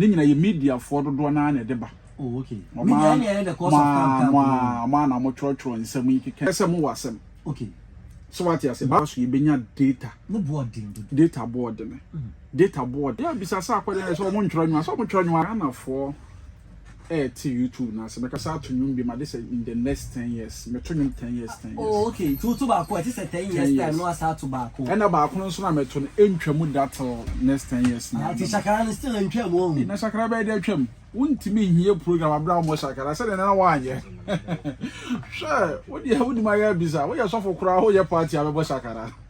Ne nyina yɛ media foɔ dodoɔ naa na ɛde ba. Oh ok. Media ɛne ɛyɛ the cause of camp camp no. Mo a na mo twerɛ twerɛ nsɛm yi keka sɛ mo wɔ asɛm. Ok. So wate aseɛ baa so yɛ bɛnya data. Ne boɔ den dodo. Data boɔ dene. Data boɔ dene. Yɛ bisa sɛ akɔdeɛ na ɛsɛ ɔmo ntwerɛ nwoma sɛ ɔmo twerɛ nwoma. Ghana foɔ ɛɛte YouTube no ase. Mɛkasa ato nwom bi ma de sɛ in the next ten years. Mɛto nnwom ten years ten years. Oh ok nti woto baako a ɛte sɛ ten years time na wasan ato baako. Ɛna baako no nso no a mɛto no ɛntwa mu da till next ten years no. Ah nti shakara no still ɛntwa mu ɔhu. Na shakara bɛyɛ de atwa mu. Wontumi nhie program abere a wɔmmɔ shakara sɛdeɛ na na woanyɛ. Hwɛ wodeɛ wonim ayɛ abisa woyɛ sɔfo koraa woyɛ party a bɛbɔ shakara.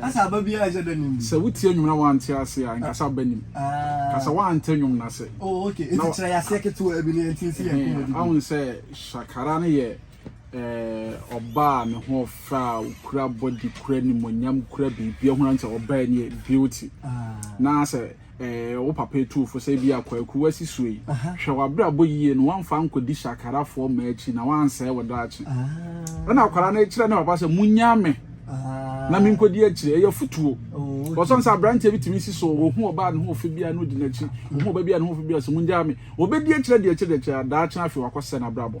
Kasa aba biara a ɛsɛ da nim bi. Sɛ wo tie nwom na wa nte aseɛ a nkasa aba nim. Kasa wa nte nwom no ase. Oh ok nti kyerɛ yɛ aseɛ ketewaa bi ne nti nsi yɛ nkɔmɔ di bi. Ahun sɛ Shakara no yɛ eh ɔbaa a ne ho ɔfɛ a okura body kura nimonyam kura biribi ahun sɛ ɔbaa ni yɛ beauty na sɛ. eh, wo papa etuu fo sɛ ebia Kwaku w'asi so yi, hwɛ w'abrabɔ yie no wamfa ankɔdi Shakarafoɔ mmaa akyi na wansɛe wo daakye. Ɛna akwadaa no kyerɛ ne papa sɛ monyaa me na menkɔdi akyire, ɛyɛ afotuo. Wɔsɔn sɛ aberanteɛ bi tumi si so, wɔhu ɔbaa ne ho ɔfɛ bi a na ɔdi n'akyi, wɔhu ɔba bi a ne ho ɔfɛ bi a sɛ mongyaa me, wɔbɛdi akyire, adi akyire, adi akyire, daakye afei wakɔsɛ n'abrabɔ.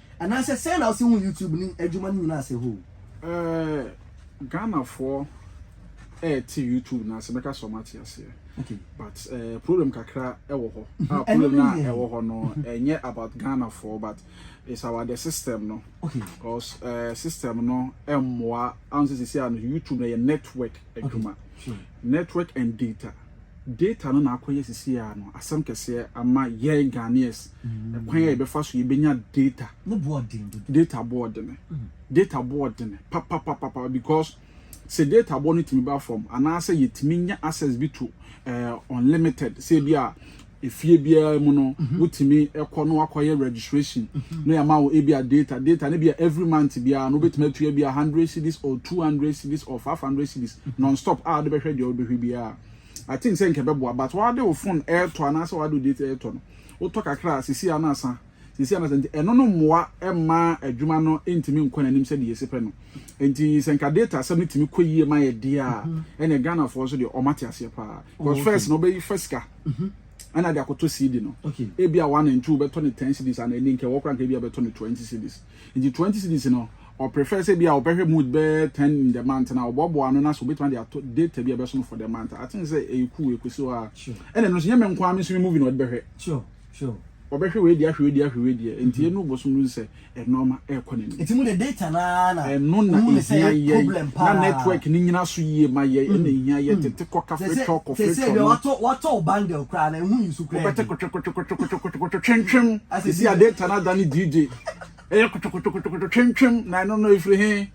Anaasɛ sɛn na wose hu YouTube ne adwuma no nyina ase hoo? Eh, Ghanafoɔ ɛɛte YouTube no ase, mɛka sɛ ɔmo ate aseɛ. Okay. But eh, problem kakra ɛwɔ hɔ. Mm-hmm. Ah, problem na ɛwɔ hɔ no, ɛnyɛ about Ghanafoɔ, but it's about the system no. Okay. Because eh, system no ɛmmoa, anse sisi a no, YouTube no yɛ network adwuma. Okay. Sure. Network and data. Data no na akɔyɛ sisi a no asɛm kɛseɛ ama yɛn Ghanaians ɛkwan a yɛbɛfa so yɛbɛnya data no boɔ den dodo data boɔ dene data boɔ dene papapapapa because sɛ data boɔ no tumi ba fam anaasɛ yɛtumi nya access bi to uh, unlimited sɛ bi a Efie biara mu no wotumi kɔ na wakɔyɛ registration na yɛama wo ebia data, data no ebia every month biara no wobɛtumi atua ebia hundred cedis or two hundred cedis or five hundred cedis non stop a wode bɛhwɛ deɛ wobɛhwɛ biara. I think sɛ nka ɛbɛboa but wode wo phone ɛretɔ anaasɛ wode wo data ɛretɔ no wotɔ kakra a seesei a na asa Seesei anasa nti, ɛno no mmoa mma adwuma no ntumi nkɔ n'anim sɛdeɛ yɛsi pɛ no. Nti sɛ nka data asɛm no tumi kɔ yie ma yɛ deɛ a, ɛnna Ghanafoɔ nso deɛ wɔn ate aseɛ paa. Because first na wɔbɛyi fa sika ɛna ade akɔtɔ CD no. Ebi a one and two bɛtɔ ne ten CDs ana ɛni nka ɛwɔ koraa nka ebi a bɛtɔ ne twenty CDs. Nti twenty CDs no ɔprefer sɛ ebi a ɔbɛhwɛ mood bɛyɛ ten in the month na ɔboaboa ano na so obetumi ade ato data bi a ɛbɛso no for the month. I think sɛ ɛyɛ cool ɛkɔsi hɔ a ɛna ɛno nso nyɛ me nko ara me nso me movie na ɔde bɛhwɛ. Sure. Ɔbɛhwɛ wei deɛ ahwɛ wei deɛ ahwɛ wei deɛ nti yɛn no bosom no hu sɛ ɛnoɔma ɛrekɔ n'anim. Nti mo de data no ara na. Ɛno na ehia yɛn na network no nyina so yie ma yɛn ɛna ehia yɛn tete kɔ kafe twɛ ɔkɔ fe twɛ no. Sɛsɛ bi watɔ watɔ o bundle koraa na ehu nsu koraa. Wobɛte kotwekotwekotwekotwekotwekotwe twentwem esi a data no adane DJ ɛyɛ kotwekotwekotwekotwe twentwem na ɛno no efiri he.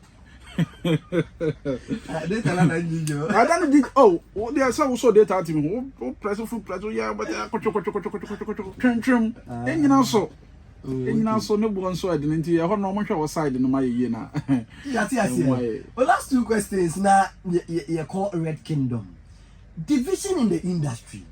data na na nyi jo ada no dig oh wo de sɛ wo so data team ho wo press fu press ya but akotwe kotwe kotwe kotwe kotwe kotwe twentwem enyina so enyina so ne bo nso ade nti ɛhɔ no ɔmo hwɛ wɔ side no ma yeye na yati ase o last two questions na ye call red kingdom division in the industry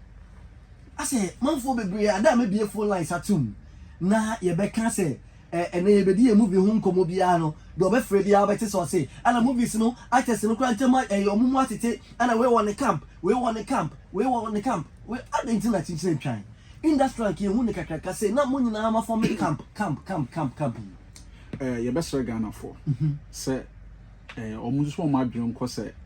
I say manfo bebre ada me bie phone lines atum na ye be ka say Ɛnnɛ yɛbɛdi yɛn movie ho nkɔmmɔ biara no, deɛ ɔbɛfrɛ biara wobɛte sɛ ɔse ana movies no actors no koraa ntam ayɛ wɔn mu atete, ana wei wɔ ne camp, wei wɔ ne camp, wei wɔ ne camp, wei adɛn nti na kyekyere ntwan? Industry anka yɛhu no kakraka, sei na mo nyinaa ma forme camp, camp, camp, camp, camp yi. Yɛbɛsrɛ Ghanafoɔ sɛ wɔn nso wɔn adwene nkɔ sɛ.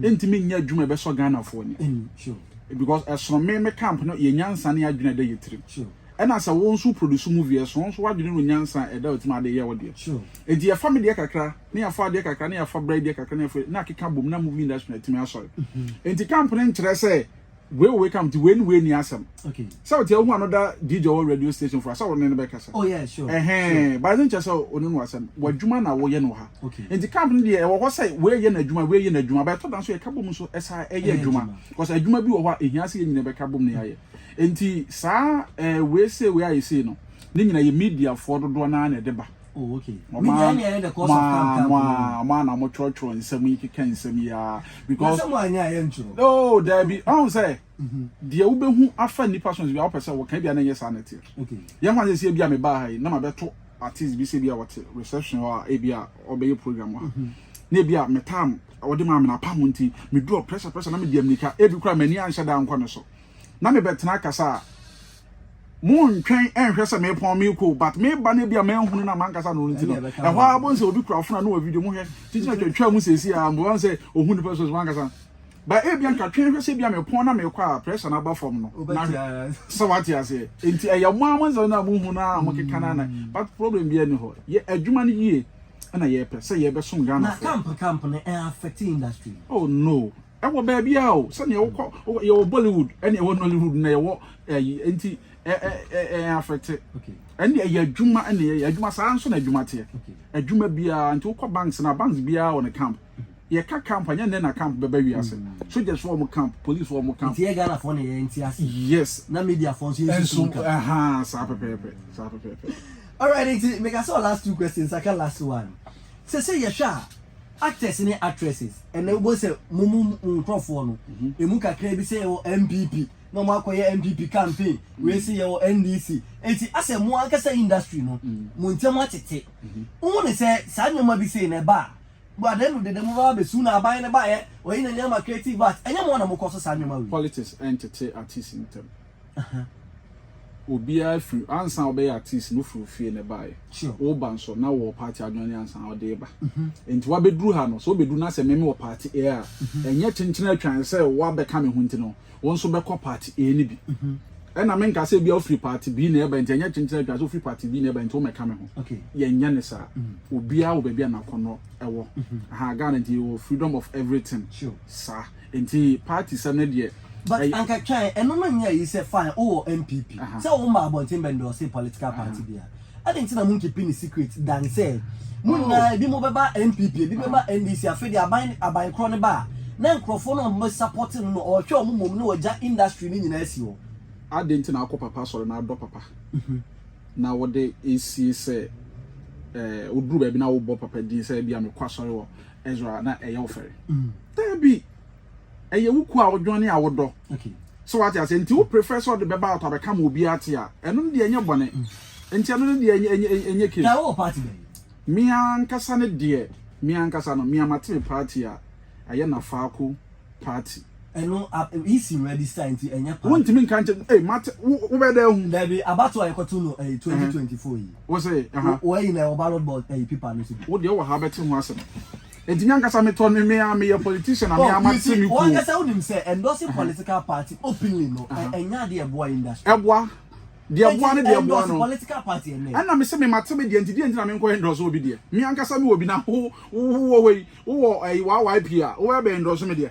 ɛntumi nyɛ adwuma ɛbɛsɔ Ghanafoɔ ani because ɛsono me me camp no yɛ nyansa ne adwene ɛda yɛ tirim ɛna sɛ wo nso produce movie ɛsono nso wadwene no nyansa ɛda ɔtim ade yɛ wo deɛ ɛnti yɛfa me deɛ kakra ne yɛfa adeɛ kakra ne yɛfa bra deɛ kakra ne yɛfa na akeka bom na movie industry na ɛtumi asɔre ɛnti camp no nkyerɛ sɛ Wei wɔ wei kam nti wei ne wei nni asɛm. Sɛ wote wohu ano da DJ ɔwɔ radio station fo a sɛ wo ne no bɛkasa. Oh yeah sure. Ɛhɛn but ne nkyɛ sɛ one no asɛm w'adwuma na woyɛ no wɔ ha. Nti camp no deɛ ɛwɔ hɔ sɛ wei yɛ n'adwuma wei yɛ n'adwuma but ɛtɔ da nso yɛka bom nso ɛsa ɛyɛ adwuma cause adwuma bi wɔ hɔ a ehia sɛ yɛn nyinaa bɛka bom na yɛayɛ. Nti saa ɛɛ wei sei wei ayɛ sei no ne nyinaa yɛ mediafoɔ dodoɔ no ara na ɛde ba. Oh, okay. Mo Me deɛ ɛnyɛ the cause of calm calm. Mo a mo a na mo twerɛtwerɛ nsɛm yi keka nsɛm yi a. Because. Nasɛ mo anyɛ a yɛntwerɛ. Oh, daabi. Ɔn sɛ. Mhm. Deɛ wobɛhu afa nipa so bi a wopɛ sɛ wɔka bi a na ɛnyɛ saa na ɛteɛ. Okay. Yɛn ho asɛ sɛ ebi a mebaa ha yi na mabɛto artist bi sɛ bi a wɔte reception hɔ a ebi a ɔbɛyɛ program ha. Mhm. Na ebi a metam wɔde maa me na apam nti meduru pressure pressure na mede amnika ebi kora m'ani anhyɛ da ankɔ ne so. Na mebɛtena kasa a Mo ntwɛn nhwɛ sɛ me pɔn me ko but me ba no ebia ma nhunu na mankasa no nti no ɛhɔ ara bɔ nsɛ obi kura fona no wɔ video mo hwɛ titi na twɛtwɛ mu sɛsi a mbo nsɛ ohun nipa so mankasa ba ebia nka twɛn hwɛ sɛ ebia me pɔn na me kɔ a pressure na ba fam no na sɛ wate ase nti ɛyɛ mo ama nsɛ na mo hu na mo keka na na but problem bi ani hɔ yɛ adwuma no yie na yɛ pɛ sɛ yɛ bɛ som Ghana na camp camp no affect industry oh no ɛwɔ baabi a o sɛnea wokɔ yɛwɔ bollywood ɛne ɛwɔ nollywood na yɛwɔ ɛyi nti ɛ ɛ ɛ ɛ afɛte ɛne ɛyɛ adwuma ɛne ɛyɛ adwuma saa nso na adwuma teɛ adwuma biara nti wokɔ banks na banks biara wɔ ne camp yɛka camp anyɛ nnɛ na camp bɛba wiase soldiers wɔ mo camp police wɔ mo camp nti yɛ ghana fɔ ne yɛ nti ase yes na media fɔ nso yɛ nso ɛha saa pɛpɛɛpɛ saa pɛpɛɛpɛ alright nti meka sɛ last two questions aka last one sɛ sɛ yɛhwɛ a Actors ne actresses, ɛnɛ wobɛhu sɛ mo mo nkorɔfoɔ no, ɛmu kakra bi sɛ yɛwɔ NPP, na wɔn akɔyɛ NPP campaign, wei sɛ yɛwɔ NDC, enti asɛ mo ankasa industry no, mo ntɛm atete. Wohu ne sɛ saa nneɛma bi sei no ɛba a, at the end of the day mo bɛba abɛsu na aban no baeɛ, wɔyi n'ani ama creative arts, ɛnyɛ mo na mokɔ so saa nneɛma wei. Politics ɛntete artists ntɛm. Ɛhɛn. Obiara firi, ansa wobɛyɛ artist no wofiri wo fie na ɛbaeɛ. Sure. Woba nso na wowɔ party a w'adwene ansa na wode reba. Enti wabɛduru ha no, sɛ wobɛduru na sɛ me mewɔ party A a, ɛnyɛ kyenkyen atwan sɛ woabɛka me ho nti no, wo nso bɛkɔ party A no bi. Ɛna menka sɛ ebia wofiri party B na ɛreba nti ɛnyɛ kyenkyen atwan sɛ wofiri party B na ɛreba nti wommɛka me ho. Okay. Yɛnyɛ no saa. Obiara wɔ baabi a n'akɔnnɔ wɔ. Aha, Ghana nti yɛwɔ freedom of everything. Sure. Saa. Nti party sɛm no deɛ. But ɛyɛ. anka twɛn, ɛno no nyɛ ayi sɛ fine wo wɔ NPP, Aha. sɛ wo mmaa abɔnten bɛ endorse political party biara, adɛn nti na mo nkeeping no secret than sɛ mo Oh. nyinaa ebi mo bɛba NPP, ebi bɛba NDC, afei deɛ aban no, aban korɔ no ba a, na nkorɔfoɔ no a wɔbɛ support no no, ɔɔhwɛ wɔn mmom na wagya industry no nyinaa asi hɔ. Adɛn nti na wokɔ papa asɔre na adɔ papa na wode esie sɛ eh, woduru baabi na wobɔ papa din sɛ ebia mekɔ asɔre wɔ Ezra a, na ɛyɛ wo fɛre? Dabi, ɛyɛ wo kuo a wodwan ne a wodɔ. So wate aseɛ? Nti wo prefer sɛ ɔde bɛba out abɛka ma obiara ate a, ɛno no deɛ ɛnyɛ bɔne. Nti ɛno no deɛ ɛnyɛ case. Guy, wowɔ party bɛn? Me ankasa no deɛ, me ankasa no, me a mate me party a, ɛyɛ Nafaako party. Ɛno, EC register nti ɛnyɛ party. Wontumi nka nkyerɛ me, ei mate, wo, wobɛyɛ dɛn ahu? Dabi, abatoɔ a yɛkɔto no ɛyi, 2024 yi. Wo se, aha. Wo, wo ayi no ɛwɔ ballot box ɛyi paper no so bi? Wo deɛ wowɔ ha wobɛte ho asɛm. Enti me ankasa me tɔ me ara me yɛ politician na me ara ma te me kuo. Oh you see, wo ankasa wo nim sɛ endorsing political party openly no ɛnyɛ adeɛ a ɛboa industry. Ɛboa, deɛ ɛboa ne deɛ ɛboa no. Enti endorse political party ɛnɛ. Ɛna me se me ma te me deɛ nti deɛ nti na me nkɔ endorse obi deɛ. Me ankasa me wɔ bi na wo wɔ hɔ yi, wo wɔ ɛyi YYP a, wo bɛ endorse me deɛ.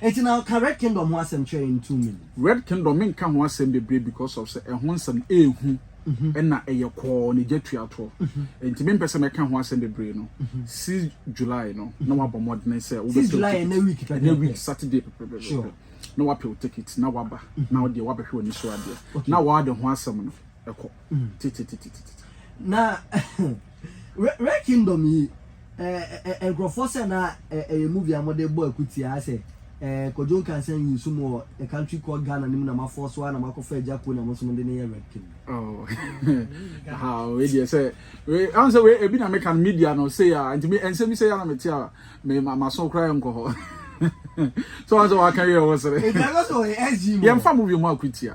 Enti na ɔka Red Kingdom ho asɛm kyerɛ yɛn too many. Red Kingdom me nka ho asɛm bebree because of sɛ ɛho nsɛm no ɛhu ɛna ɛyɛ kɔɔ ne gya tua toɔ enti me mpɛ sɛ mɛka ho asɛm bebree no six July no na wabɔ mmɔdene sɛ wobɛ pɛ wo ticket ɛnɛ week Saturday pɛpɛpɛpɛ na wapɛ wo ticket na waba na wo deɛ wabɛhwɛ w'ani so adeɛ na w'ade ho asɛm no ɛkɔ. Mm. Titititititi. Na Red Kingdom yi ɛɛ nkurɔfoɔ sɛ na ɛyɛ movie a wɔde bɔ akutia sɛ ɛɛ Kojo Nkansa nyi nso mu wɔ a country called Ghana ne mu na mafɔ so a na makɔfa agya kuo na mo nso mo de ne yɛ Red Kingdom. Oh. ha wei deɛ sɛ wei ahun sɛ wei ebi na meka no media no sɛ ya nti me nsɛm bi sɛ ya na mete a me ma ma so koraa nkɔ hɔ so wɔn sɛ wɔaka wei a wɔsere. Ebi ɛlɔ sɛ ɔyɛ SG mu. yɛmfa movie ho akutia.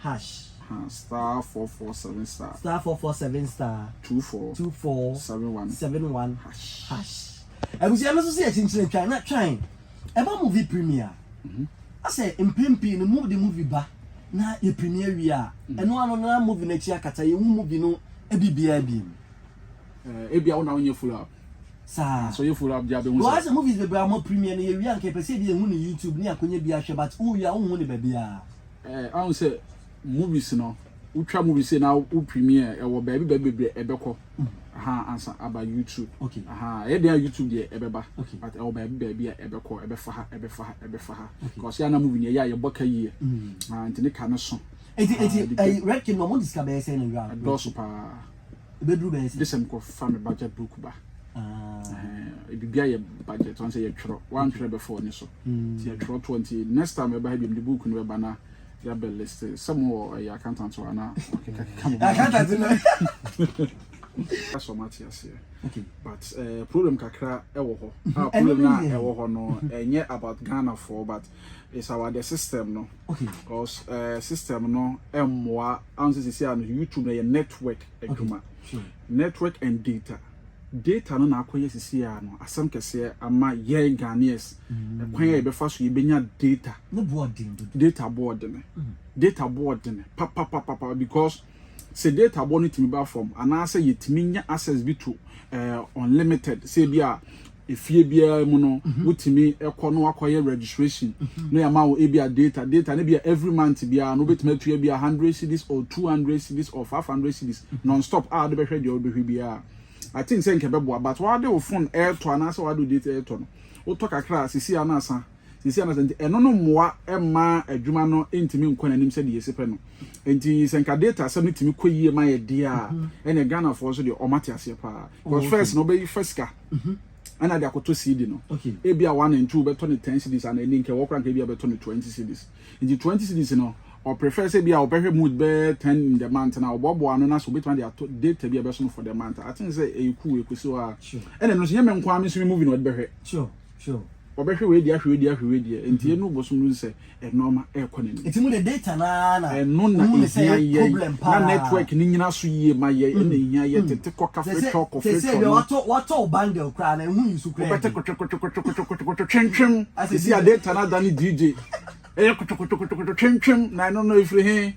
hash. Huh, star four four seven star. Star four four seven star. Two four. Two four. Seven one. Seven one. Hash. Hash. Abusua no nso sɛ yɛkyinkyini twan na twan ɛba movie premier. Mhm. Asɛ mpɛn pii no mu de movie ba na yɛ premier wie a mhm. ɛno ano na movie no akyi akata yɛn hu movie no ebi biara bi mu. Ɛɛ eh, ebi a wɔn na wɔn yɛ follow up. Saa. So yɛ follow up di abɛn ho sɛ. Wɔn asɛ movies bebree a wɔn premier no yɛ wie a nka yɛ pɛ sɛ ebi yɛ hu no YouTube ne akonya bi ahwɛ but wo wie a wo hu no baabi a. Eh ahu sɛ movies no wotwa movies sei na wo premiere ɛwɔ baabi baabi bebree ɛbɛkɔ aha ansa aba youtube okay aha ɛyɛ deɛ youtube deɛ ɛbɛba okay but ɛwɔ baabi baabi a ɛbɛkɔ ɛbɛfa ha ɛbɛfa ha ɛbɛfa ha okay kɔsi ana movie no ɛyɛ a yɛbɔ ka yie ah nti ne ka no so eti eti red king no mo disika bɛyɛ sɛ na wura ɛdɔɔso paa. ɛbɛduru bɛyɛ sɛ. Jesem kɔ fa me budget book ba. Uh, biribi ayɛ budget ɔn sɛ yɛtwerɛ wantwerɛ bɛfa ɔne so hmm. nti yɛtwerɛ toɔ nti next time ɛba ha biom de book no bɛba na yɛabɛ list sɛ mo wɔ ɛyɛ accountant hɔ anaa ɔkekakeka mo accountant no ɛsɔ mo ate aseɛ but uh, problem kakra ɛwɔ hɔ a problem no a ɛwɔ hɔ no ɛnyɛ about ghanafoɔ but it's our the system no okay because uh, system no ɛmmoa ansa sisi ano youtube na yɛ network adwuma okay. sure. network and data data no na akɔyɛ sisi ano asɛm kɛseɛ ama yɛn ghanaians mm. ɛkwan a yɛbɛfa so yɛbɛnya data ne boɔden dodo data boɔden mm. data boɔden papapapapa because sɛ data boɔ no tumi ba fam anaasɛ yɛtumi nya access bi to uh, unlimited sɛ bi a Efie biara mu no wotumi kɔ na wakɔyɛ registration na yɛama wo ebia data, data no ebia every month biara no wobɛtumi atua ebia hundred cedis or two hundred cedis or five hundred cedis non stop a wode bɛhwɛ deɛ wobɛhwɛ biara. I think sɛ nka ɛbɛboa but wode wo phone retɔ anaasɛ wode wo data retɔ no wotɔ kakra a seesei ara na asan Seesei anasa nti, ɛno no mmoa mma adwuma no ntumi nkɔ n'anim sɛdeɛ yɛsi pɛ no. Nti sɛ nka data asɛm no tumi kɔ yie ma yɛ deɛ a, ɛnna Ghanafoɔ nso deɛ wɔate aseɛ paa. Because oh, first na wɔbɛyi fa sika. Mhm. ɛna de akɔtɔ CD no ebi a one and two bɛtɔ ne ten cedis ana ɛni nkɛ wɔkora nkɛ bi a bɛtɔ ne twenty cedis nti twenty cedis no ɔprefer sɛ bi a ɔbɛhwɛ mood bɛyɛ ten in the month na ɔbɔbɔ ano na so obetuma de ato data bi a ɛbɛso no for the month aten sɛ ɛyɛ cool ɛkɔsi hɔ a ɛna ɛno nso nyɛ me nko ara me nso me movie na ɔde bɛhwɛ Sure. Ɔbɛhwɛ wei deɛ ahwɛ wei deɛ ahwɛ wei deɛ nti yɛn no bosom no hu sɛ ɛnoɔma ɛrekɔ n'anim. Nti mo de data no ara na ɛno na ehia yɛn na network no nyina so yie ma yɛn ɛna ehia yɛn tete kɔ kafe twɔ kɔ fe twɔ no. Wɔtɔ wɔtɔ wo bundle koraa na ehu nsu koraa. Wobɛte kotwekotwekotwekotwekotwekotwe twentwem esi a data no adane DJ ɛyɛ kotwekotwekotwekotwe twentwem na ɛno no efiri he?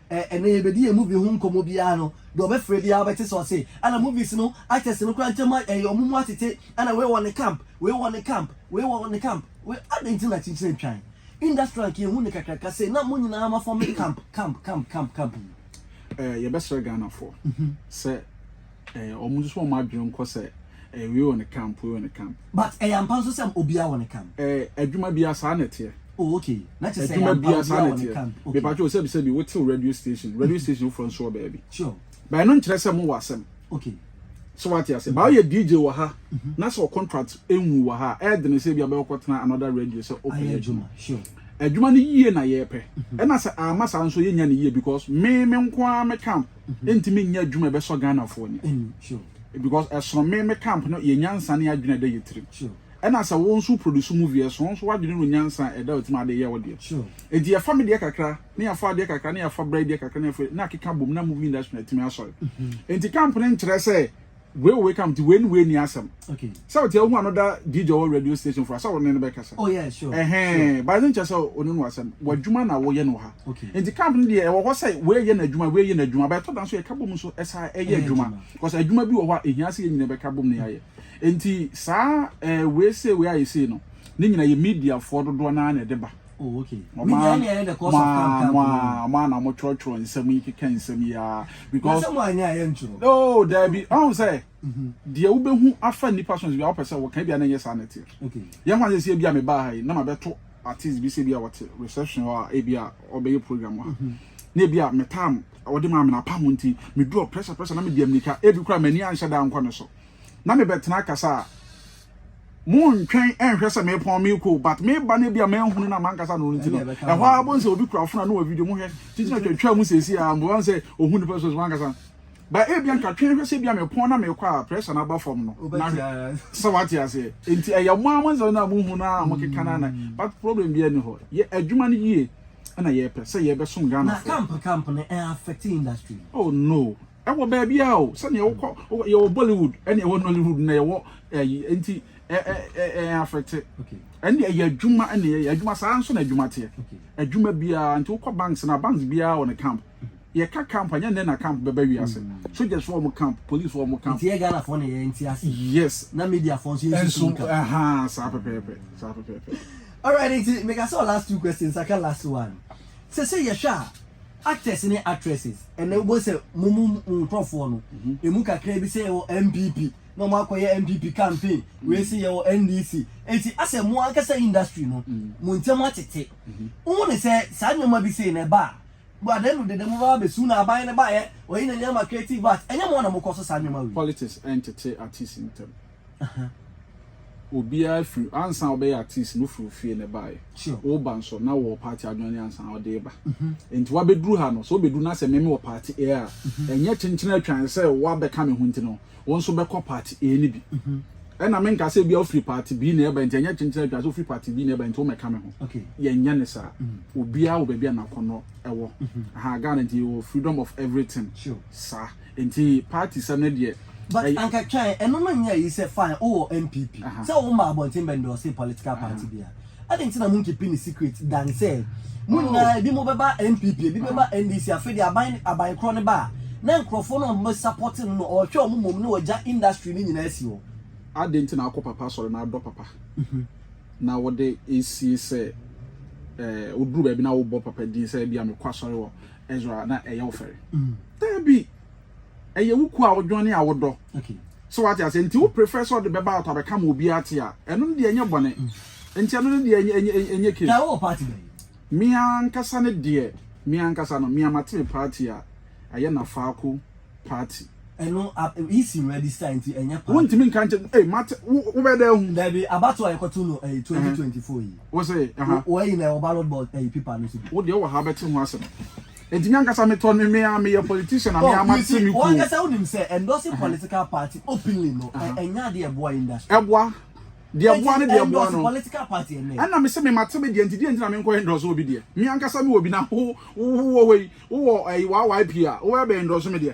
Eh ɛnɛ yɛbɛdi yɛn movie ho nkɔmmɔ biara no deɛ ɔbɛfrɛ biara wobɛte sɛ ɔse ana movies no actors no koraa ntam a ɛyɛ ɔmo mu atete ana wei wɔ ne camp wei wɔ ne camp wei wɔ ne camp wei adɛn nti na kyekyerɛ ntwan industry anka yɛhu ne kakraka sei na mo nyinaa ma form camp camp camp camp camp yi. Eh yɛbɛsrɛ Ghanafoɔ sɛ. Eh, wɔn nso wɔn adwene nkɔ sɛ eh, wei wɔ ne camp, wei wɔ ne camp. But ɛyɛ ampa nso sɛ obiara wɔ ne camp. Eh, adwuma biara saa na ɛteɛ. Oh, okay. Na kyerɛ sɛ ɛyɛ ampa obiara wɔ ne camp. Okay. Mepa kyɛw sɛbi sɛbi wotew radio station, radio station foforɔ nso wɔ baabi. Sure. Ba ɛno nkyerɛ sɛ mo wɔ asɛm. Okay. So wate ase. Ba ɔyɛ DJ wɔ ha, mhm. na sɛ wɔ contract enwu wɔ ha, ɛɛde ne sɛ ebi abɛyɛ kɔtena another radio sɛ ɔpɛ adwuma. Sure. Adwuma no yie na yɛɛpɛ. Mhm. Ɛna sɛ ama saa nso yɛnya ne yie because me me nko ara me camp. ɛntumi nyɛ adwuma ɛbɛsɔ Ghanafoɔ ani because ɛsono me me camp no yɛ nyansa ne adwene ɛda yɛ tirim ɛna sɛ wo nso produce movie ɛsono nso w'adwene no nyansa ɛda wo tirim ade yɛ wo deɛ enti yɛfa me deɛ kakra ne yɛfa adeɛ kakra ne yɛfa bra deɛ kakra ne yɛfa na akeka bom na movie industry na ɛtumi asɔre enti camp no nkyerɛ sɛ Wei wɔ wei kam nti wei ne wei ni asɛm. Okay. Sɛ wote ahu ano da DJ wɔ radio station for sɛ wo ne no bɛkasa. Oh yeah sure. Ɛhɛn sure. Ba ne nkyɛ sɛ one no asɛm. W'adwuma na woyɛ no ha. Okay. Nti camp no deɛ ɛwɔ hɔ sɛ wei yɛ n'adwuma wei yɛ n'adwuma ba ɛtɔ da nso yɛka bom nso ɛsa ɛyɛ adwuma. Because adwuma bi wɔ hɔ a ehia sɛ yɛn nyinaa bɛka bom ne yɛayɛ. Nti saa ɛɛ wei sei wei ayɛ sei no ne nyinaa yɛ mediafoɔ dodoɔ naa na ɛde ba. Oh, okay. Mo a mo a na mo twerɛtwerɛ nsɛm yi keka nsɛm yi ara. Because mo anyɛ a yɛntwerɛ. No, daabi. Ɔn sɛ. Deɛ wobɛhu afa nnipa so no bi a wopɛ sɛ wɔka bi a na ɛnyɛ saa na ɛteɛ. Yɛn ho asɛ sɛ ebi a mebaa ha yi na mabɛto artist bi sɛ bi a wɔte reception hɔ a ebi a ɔbɛyɛ program ha. Mhm. Na ebi a metam ɔde maa me na apam nti medurɔ pressure pressure na mede ammirika ebi kora m'ani anhyɛ da ankɔ ne so. Na mebɛtena akasa a Mo ntwɛn nhwɛ sɛ me pɔn me ko but me ba no bia ma nhunu na mankasa no nti no ɛhɔ ara bɔ nsɛ obi kura fona no wɔ video mo hwɛ titi na twɛtwɛ mu sɛsi a mbo nsɛ ohu nipa so mankasa ba e bia nka twɛn hwɛ sɛ bia me pɔn na me kɔ a pressure na ba fam no na sɛ wate ase nti ɛyɛ mo ama nsɛ na mo hu na mo keka na na but problem bia ni hɔ yɛ adwuma no yie na yɛ pɛ sɛ yɛ bɛ som Ghana na camp camp no affect industry oh no Ɛwɔ baabi a o, sɛnea wokɔ, yɛwɔ Bollywood, ɛna ɛwɔ Nollywood, na yɛwɔ ɛyi, eh, nti ɛ ɛ ɛ ɛ afɛte. Ɛne ɛyɛ adwuma, ɛne ɛyɛ adwuma, saa nso na adwuma teɛ. Adwuma biara, nti wokɔ banks na banks biara wɔ ne camp. Yɛka camp, ɛnyɛ nnɛ na camp bɛba wiase. Soldiers wɔ wɔn camp, police wɔ wɔn camp. Nti yɛ Ghana foɔ na yɛ nti ase. Yes. Na media foɔ nso yɛ nso so camp. Ɛha, saa pɛpɛɛpɛ, saa pɛpɛɛpɛ. Alright, nti meka sɛ last two questions, aka last one. Sɛ sɛ yɛhwɛ a, Actors ne actresses, ɛnɛ wobɛhu sɛ mo mu mo nkorɔfoɔ no, ɛmu kakraa bi sɛ yɛwɔ NPP, na wɔn akɔyɛ NPP campaign, wei se yɛwɔ NDC, enti asɛ mo ankasa industry no, mo ntɛm atete. Wohu ne sɛ saa nneɛma bi sei no ɛba a, adan mu dede mo bɛba abɛsu na aban no baeɛ, wɔyi n'ani ama creative arts, ɛnyɛ mo na mokɔ so saa nneɛma wei. Politics ɛntete artists ntɛm. Ɛhɛn. Obiara firi, ansa wobɛyɛ artist no wofiri wo fie na ɛbaeɛ. Sure. Woba nso na wowɔ party a wojoine ansa na wode reba. Enti woabɛduru ha no, sɛ wobɛduru na sɛ me mewɔ party A a, ɛnyɛ kyenkyen atwan sɛ woabɛka me ho nti no, wo nso bɛkɔ party A no bi. Ɛna menka sɛ ebia wofiri party B na ɛrebae nti ɛnyɛ kyenkyen atwan sɛ wofiri party B na ɛrebae nti wommɛka me ho. Okay. Yɛnyɛ no saa. Obiara wɔ baabi a n'akɔnnɔ wɔ. Aha, Ghana nti yɛwɔ freedom of everything. Sure. Saa. Nti party sɛm no deɛ. But anka twɛn, ɛno no nyɛ ayi sɛ fine wo wɔ NPP, sɛ wo mmaa abɔnten bɛ endorse political party bia, adɛn nti na mo nkeeping no secret than sɛ mo nyinaa ebi mo bɛba NPP, ebi bɛba NDC, afei deɛ aban aban korɔ no ba a, na nkorɔfoɔ no a wɔbɛ supporte no no wɔhwɛ wɔn mmom na wɔagya industry no nyinaa asi hɔ. Adɛn nti na wokɔ papa asɔre na adɔ papa na wode esie sɛ eh, woduru baabi na wobɔ papa din sɛ ebia mekɔ asɔre wɔ Ezra a, na ɛyɛ wo fɛre. Dabi, ɛyɛ wo kuo a wodwɔn ne a wodɔ. So wate aseɛ? Nti wo prefer sɛ ɔde bɛba out abɛka ma obiara te a, ɛno no deɛ ɛnyɛ bɔne. Nti ɛno no deɛ ɛnyɛ case. Taa wowɔ party bɛn? Me ankasa no deɛ, me ankasa no, me a mate me party a, ɛyɛ Nafaako party. Ɛno EC register nti ɛnyɛ party. Wontumi nka nkyɛ, ei mate, wo wobɛyɛ dɛn ahu? Dabi, abatoɔ a yɛkɔto no ɛyi 2024 yi. Wo se, aha. Wo ayi no ɛwɔ ballot box ɛyi paper no so bi? Wo deɛ wowɔ ha wobɛte ho asɛm. Enti me ankasa me tɔ no me a me yɛ politician a me a ma te me kuo. Wo ankasa wo nim sɛ endorsing political party openly no ɛnyɛ ade a ɛboa industry. Ɛboa. Deɛ ɛboa ne deɛ ɛboa no. Endorse political party ɛnɛ. Ɛna me se me ma te me deɛ nti deɛ nti na me nkɔ endorse obi deɛ. Me ankasa me wɔ bi na wo wɔ hɔ yi wo wɔ ɛyi YYP a wo bɛ bɛ endorse me deɛ.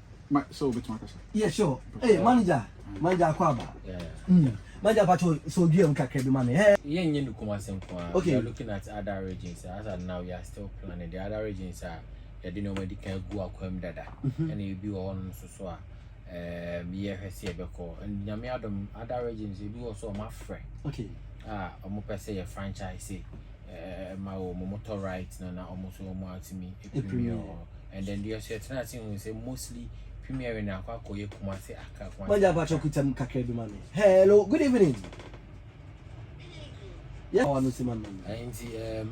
ma sɛ wobɛtumi akasa yeah sure hey manager manager akɔ aba mm. manager pato sɛ odua mu kakra bi ma me hey yeah nyɛ no kuma se nko a okay. we are looking at other regions as at now we are still planning the other regions are yɛde nneɛma di kan gu akwam dada ɛna mhm. ebi wɔ hɔnom nso so a ɛɛm yɛhwɛ sɛ yɛbɛkɔ nyame adom other regions ebi wɔ so ɔmo afrɛ a ɔmo pɛ sɛ yɛ franchise eh, ma wɔ mo motor right na na ɔmo so ɔmo atumi premier wɔ and then deɛ ɔsɛ tena ase hu sɛ mostly premier na akɔ akɔyɛ kumase aka kumase. wọ́n jẹ́ apàtúwọ̀ kùtà mu kakra bi ma mi hello good evening. yẹ wà lóṣù ma mi. ẹyin ti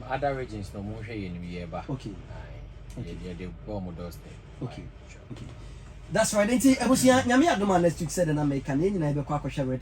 other regions na ọmọ nhwẹ yẹn ni yẹ ba. okay okay yẹ de bọ ọmọ dọsẹ. okay okay that's right nti ebusua nyame adoma next week sẹ de na mẹka na yẹn nyinaa yẹ bẹ kọ akọhwẹ red.